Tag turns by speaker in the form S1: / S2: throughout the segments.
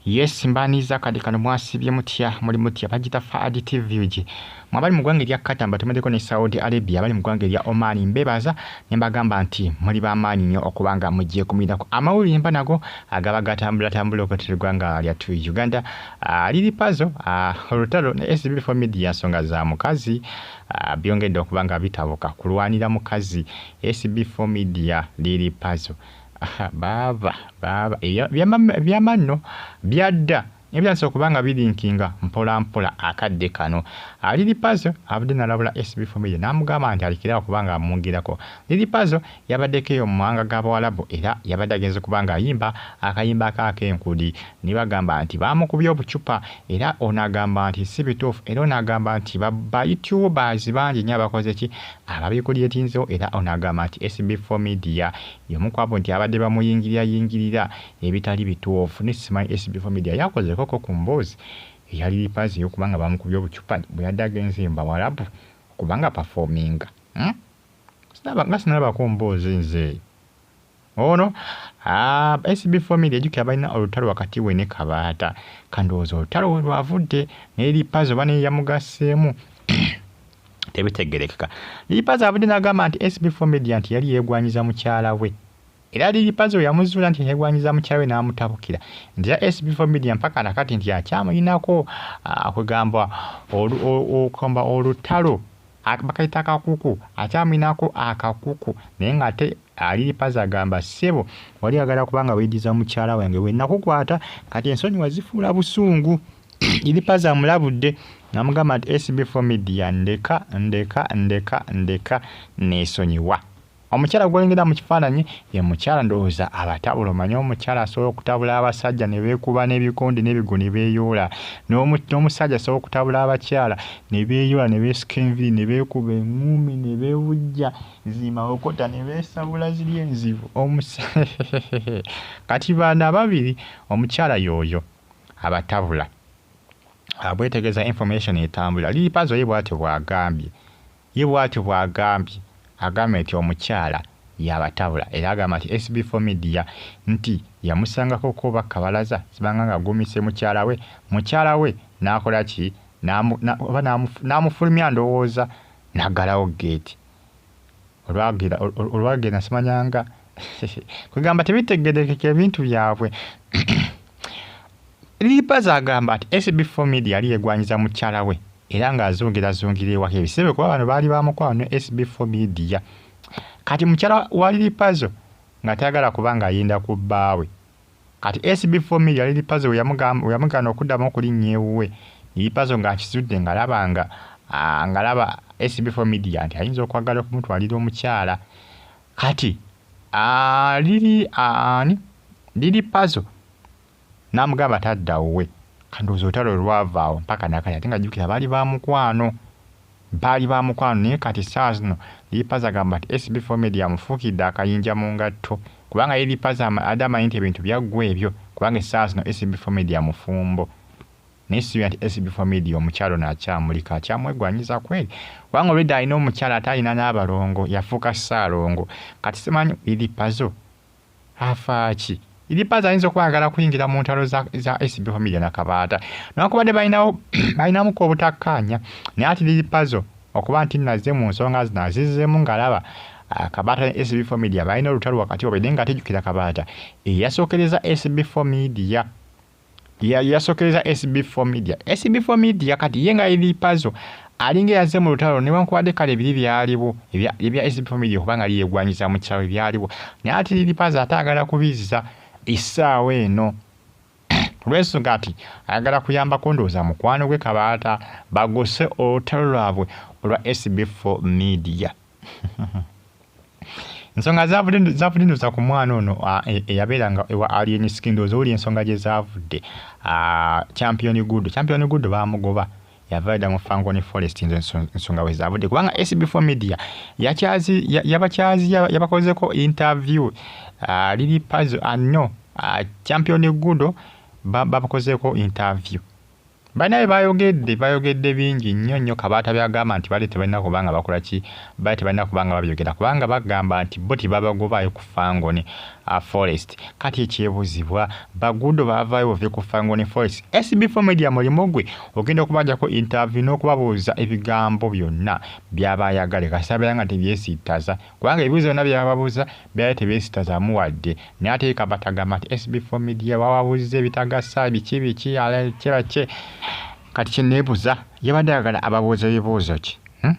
S1: Yes mbaniza kadi kano mwasibye mutya muli mutya bagita Fahad TV uji mwabali mu gwanga erya Qatar batumedeko ne Saudi Arabia abali mu gwanga erya Oman mbebaza ne mbagamba nti muli ba maanyi nnyo okubanga mujje kumuyinako amawulire mba nago agaba gatambula tambula okutira eggwanga lya tu Uganda uh, liri pazo uh, olutalo ne SB for media nsonga za mukazi uh, byongedde okubanga bitabuka kulwanira mukazi SB for media liri pazo Aha baaba baaba ebya byama byamanno byadda naye byatandise okuba nga bilinkinga mpola mpola akadde kano. Lili Pazo avudde nalabula SB Family namugamba nti alekere awo kuba nga amwongerako. Lili Pazo yabaddeko eyo mu mawanga ga Bawalabu era yabadde agenze kuba nga ayimba akayimba ke ak'enkudi nebagamba nti bamukubye obucupa era ono agamba nti si bituufu era ono agamba nti ba ba you tubers bangi nnyo abakoze ki? ababikulyetiinzewo era ono agamba nti SB4 Media Y'omu kwabo nti abadde bamuyingiriyayingirira ebitali bituufu ne Simanyi SB4 Media yakozeeko ko ku mboozi eya Lil Pazi ey'okuba nga bamukubye obucupa bwe yadde agenze mu Bawarabu okuba nga apafoominga. Uhmm sinaba nga sinalabako mboozi nze eyo. Ono aah SB4 Media jjukira balina olutalo wakati we ne Kabaata ka ndowooza olutalo we lwavudde ne Lil Pazi oba naye yamugasseemu. tebitegerekeka lilipazo abadde nagamba nti sb4 media nti yali yegwanyiza mukyala we era lilipazo yamuzuula nti yegwanyiza mukyala we n'amutabukira nti era sb4 media mpaka nakati nti akyamulinako ah, kwegamba okamba olutalo bakayita akakuku akyamulinako akakuku naye nga ate alilipazo agamba ssebo wali agala kubanga weyidiza mukyala wange wenakukwata kati ensonyi wazifuula busungu Iripaza amulabudde namugamba nti SB4 Media ndeka ndeka ndeka ndeka nesonyiwa. Omukyala gwolengera mu kifaananyi ye mukyala ndowooza abatabula omanyi omukyala asobola okutabula abasajja ne beekuba n'ebikonde n'ebigo ne beeyoola n'omusajja asobola okutabula abakyala ne beeyoola ne beesika enviri ne beekuba eŋŋuumi ne beewujja zimawokota ne beesabula ziri enzibu kati baana ababiri omukyala yooyo abatabula abwetegeza information etambula liipazo ye bwatyo bwagambye ye bwatyo bwagambye agambye nti omukyala yabatabula era agamba nti sb for media nti yamusangako kuba kabalaza sibanga nga agumise mukyala we mukyala we nakola ki oba namufulumya ndowooza nagalawo geeti olwagera olwagera simanyanga kwegamba tebitegerekeka ebintu byabwe lipaza agamba nti acb for media yali yegwanyiza mukyala we era ng'azungira zungira ewaka ebisebe kuba bano baali bamukwano ne acb for media kati mukyala wa lilipazo nga tayagala kuba ng'ayenda ku bbaawe Kati SB for me yali Lipazo weyamugana okudamu okulinnya ewuwe, Lipazo nga akizudde nga laba nga ah, nga laba SB for media nti ayinza okwagala okumutwalira omukyala. Kati ah, lili ah, ani lili Pazo namugamba tadda wuwe, kandowoza olutalo lwavaawo mpaka nakati ate nga jukira baali bamukwano. Baali ba mukwano naye kati essaawa zino Lipazo agamba nti SB Four Media amufuukidde akayinja mu ngatto kubanga ye Lipazo abadde amanyi nti ebintu byaggwa ebyo kubanga essaawa zino SB Four Media mufumbo naye sisuubira nti SB Four Media omukyala ono akyamulika akyamwegwanyiza kweri kubanga olwedda alina omukyala ate alina n'abalongo yafuuka ssaalongo kati simanyi Lipazo Afaaki? Idi Baz ayinza okuba ayagala kuyingira mu ntalo za, za SB Family na Kabaata. Newakubadde balinawo balinamuko obutakkaanya naye ati Lili Pazo okuba nti nazze mu nsonga zino azizzeemu ng'alaba ah, Kabaata ne SB Family balina olutalo wakati wabwe naye nga tejjukira Kabaata eyasookereza SB Family yasokereza SB4 media SB4 media kati ye nga eri pazo alinga yaze mu lutalo ne wankubadde kale biri byaliwo ebya SB4 media kuba nga liyegwanyiza mu kyawe byaliwo naye ati liri pazo ate agala kubizza essaawa eno olwensonga ati ayagala kuyambako ndowooza mukwano gwe kabaata bagose olutalo lwabwe olwa SB4 media ensonga zavudde ndoza ku mwana ono e, eyabeeranga ewa alien skin ndooza oli ensonga gye zavudde champion good champion good bamugoba yavaida mu fangoni forest nze nsonga we zavudde kubanga sb4 media yabakyazi yabakozeko interview lili pazo anno champion good babakozeeko interview Banaye bayogedde bayogedde bingi nnyo nnyo kabaata byagamba nti bali tebalina kuba nga bakola ki bali tebalina kuba nga babyogera kubanga bagamba nti bo tebabagobaayo ku fangoni uh, forest kati ekyebuzibwa bagudo bavayo bove ku fangoni forest sb4 media mulimu gwe ogenda okubajako interview n'okubabuuza ebigambo byonna byaba ayagale kasabera nga tebyesittaza kubanga ebibuuzo byonna byababuuza Bera tebesitazamu wadde. Naye ate ye kaba tagamba nti SB for media wawabuzze bitagasa biki biki ala kiba ki kati kyenebuza yabadde ayagala ababuuze bibuuzo ki hmm?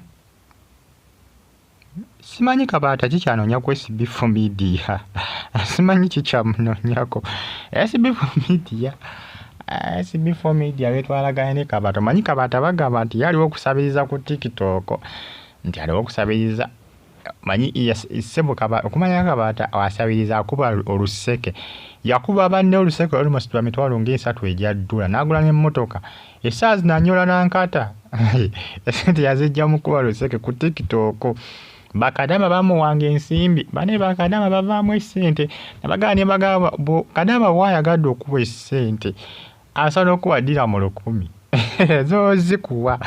S1: simanyi kabaata kikyanonya ku SB for media simanyi kikyamunonyako SB for media SB for media betwalaganye ne kabaata manyi kabaata bagamba nti yaliwo okusabiriza ku tiktok nti aliwo okusabiriza manyi sebo okumanya kabaata asabiriza akuba oluseke yakuba banne oluseke almost lwa mitwalo ngaesatu egya ddula n'agula n'emmotoka esaawa zino anyola nankata esente yazijja mukuba luseke ku tikitooko bakadama bamuwanga ensimbi bane bakadama bavaamu esente nabagaa ne bagaba kadama waayagadde okuba esente asobola okuwa dira mu lukumi zozikuwa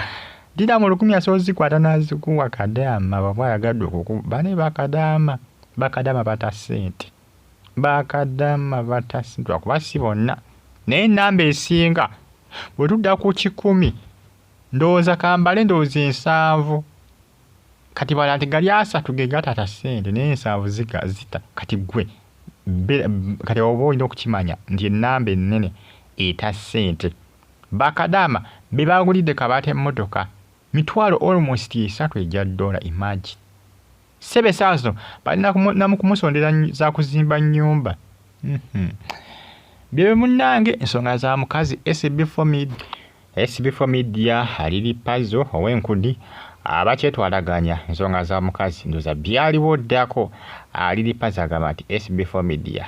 S1: dira mu lukumi asobola ozikwata nazikuwa kadaama baba ayagadde okukuba bane bakadaama bakadaama bata sente bakadaama bata sente lwakuba si bonna naye enamba esinga bwe tudda ku kikumi ndowooza kambale ndowooza ensanvu kati bala nti gali asatu ge gatata sente naye ensaavu zika zita kati gwe kati oba olina okukimanya nti enamba enene eta sente bakadama bebagulidde kabata emmotoka mitwalo almost esatu egya dola imagine sebe esaawa zino balinamukumusondera zakuzimba nyumba mm -hmm. byebyo munange ensonga za mukazi sb fomid SB4 Media aliri pazo ow'enkudi abakyetwalaganya nsonga za mukazi ndoza byaliwo ddako aliri pazo agamba nti SB4 Media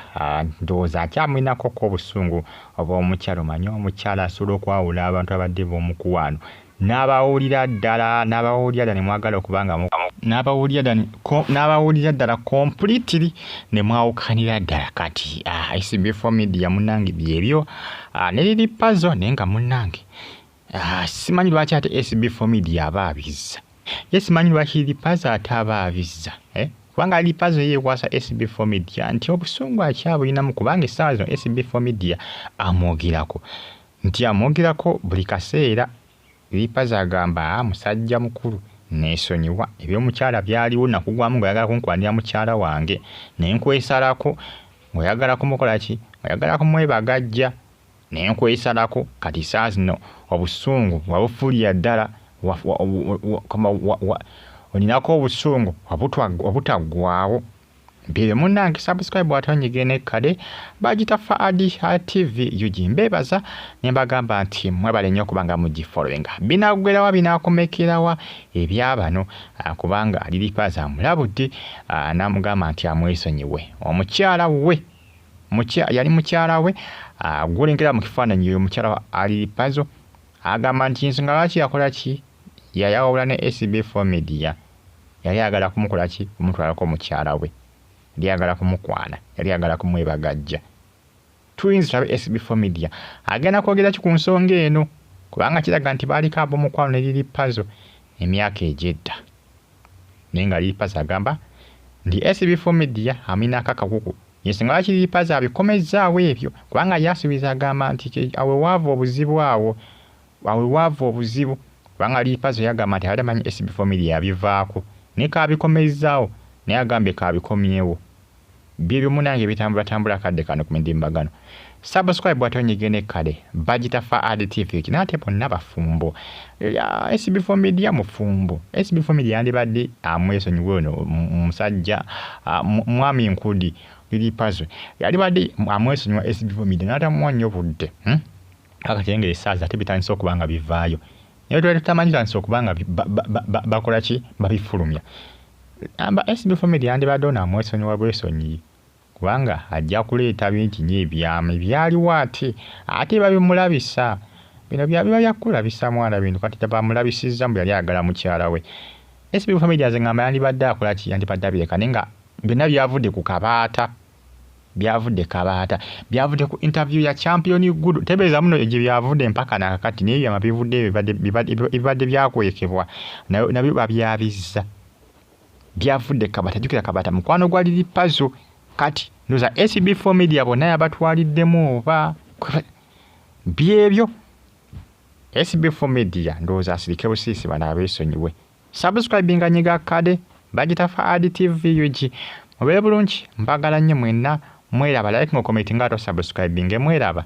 S1: ndowooza akyamulinako ko obusungu obw'omukyala omanye omukyala asobola okwawula abantu abadde b'omukuwaano n'abawulira ddala n'abawulira ddala ne mwagala okuba nga n'abawulira ddala completely ne mwawukanira ddala kati ah, SB4 Media munange byebyo Ah, ne lili pazo naye nga munnange ah, simanyi lwaki ate sb for media aba abizza ye simanyi lwaki lili pazo ate aba abizza eh? kubanga lili pazo yeekwasa sb for media nti obusungu akyabulinamu kubanga essaawa zino sb for media amwogerako nti amwogerako buli kaseera Lipazo agamba, Musajja mukulu, nneesonyiwa. Eby'omukyala byaliwo, nnakugwamu ng'oyagala kunkulanira mukyala wange, ne nkwesalako. Ng'oyagala kumukola ki? Ng'oyagala kumwebagajja. Ne nkwesalako. Kati ssaawa zino obusungu wabufuulira ddala, wa, wa, wa, wa, wa, wa, wa, oninako obusungu obutaggwaawo. Mpire munange subscribe watonyige ne kade bajita Faadi TV UG mbebaza ne bagamba nti mwebale nyo kubanga muji following binagwera wa binakomekera wa ebyabano ah, kubanga lili paza mulabudi ah, namugamba nti amwesonyiwe omukyala we mukya yali mukyala we ah, gulengera mu kifaananyi yoyo mukyala ali pazo agamba nti nsonga lwaki yakola ki yayawula ne SB4 media yali agala kumukola ki kumutwalako mukyala we yali agala kumukwana yali agala kumwebagajja tuyinza tulabe sb for media agenda kwogera ki ku nsonga eno kubanga kiraga nti baaliko ab'omukwano ne liri pazo emyaka egyedda naye nga liri pazo agamba nti sb for media aminako akakuku yesinga lwaki liri pazo abikomezzaawo ebyo kubanga yasuubiza agamba nti awewaava obuzibu awo Awo we waava obuzibu kubanga Liipazo yagamba nti abadde amanyi SB Family yabivaako naye kaabikomezzaawo naye agambye kaabikomyewo. Byebyo munange ebitambulatambula akadde kano ku midimbagano. Subscribe ate onyige ne kale bagita Faad TV ekina ate bonna bafumbo. Eya SB Family mufumbo. SB Family yandibadde amwesonyiwe ono musajja mwami Nkudi Liipazo. Yalibadde amwesonyiwa SB Family n'atamuwa nnyo budde. Hmm? kaka kyenga esaazi ate bitandise okuba nga bivaayo naye twali tutamanyi tandise okuba nga bakola ki babifulumya amba sb family yandibadde ono amwesonyiwa bwesonyiyi kubanga ajja kuleeta bingi nyo ebyama ebyaliwo ate ate babimulabisa bino byabiba byakukulabisa mwana bintu kati tabamulabisizza mbu yali ayagala mukyala we sb family aze ngamba yandibadde akola ki yandibadde abireka naye nga byonna byavudde ku kabaata byavude kabaata byavude ku interview ya champion gudu tebeza muno eje byavude mpaka na kakati naye byama bivude bibade bibade bibade byakwekebwa nayo nabyo babyabizza byavude kabaata jukira kabaata mukwano gwa lili pazo kati noza SB4 media bona yabatwaliddemu oba byebyo SB4 media ndoza asirike busisi bana abesonyiwe Subscribinga nyiga kade bagita fa ad tv ug mubere bulungi mbagala nnyo mwenna mweraba like ngo comment nga to subscribinge mweraba